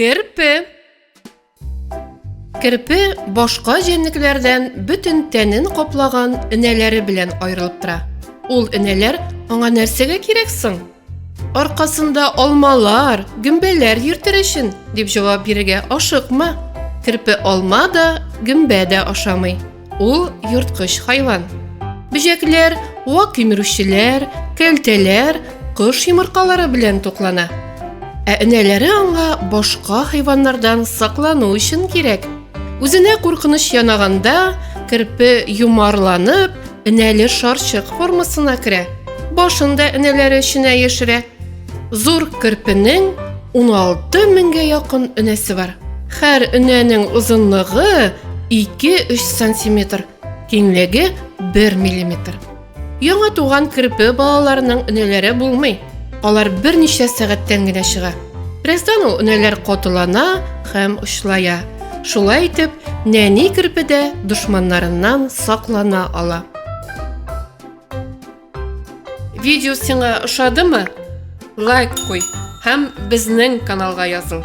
Керпе Керпе башка җәнлекләрдән бөтен тәнен каплаган энәләре белән аерылып тора. Ул энәләр аңа нәрсәгә кирәк соң? Аркасында алмалар, гөмбәләр йөртер өчен, дип җавап бирергә ашыкма. Керпе алма да, гөмбә дә ашамый. Ул йорткыч хайван. Бөҗәкләр, вак кимерүчеләр, кәлтәләр, кош йомыркалары белән туклана. Ә энәләре аңа башка хайваннардан саклану өчен кирәк, Үзенә куркыныч янаганда, керпе юмарланып, энәле шарчык формасына керә. Башын да энәләре эченә яшерә. Зур керпенең 16 меңгә якын энәсе бар. Һәр энәнең озынлыгы 2-3 сантиметр, киңлеге 1 миллиметр. Яңа туган керпе балаларының өнәләре булмый. Алар берничә сәгатьтән генә чыга. Бераздан ул өнәләр котылана һәм очлая. Шулай итеп, нәни керпе дә дошманнарыннан саклана ала. Видео сиңа ошадымы? Лайк куй һәм безнең каналга языл.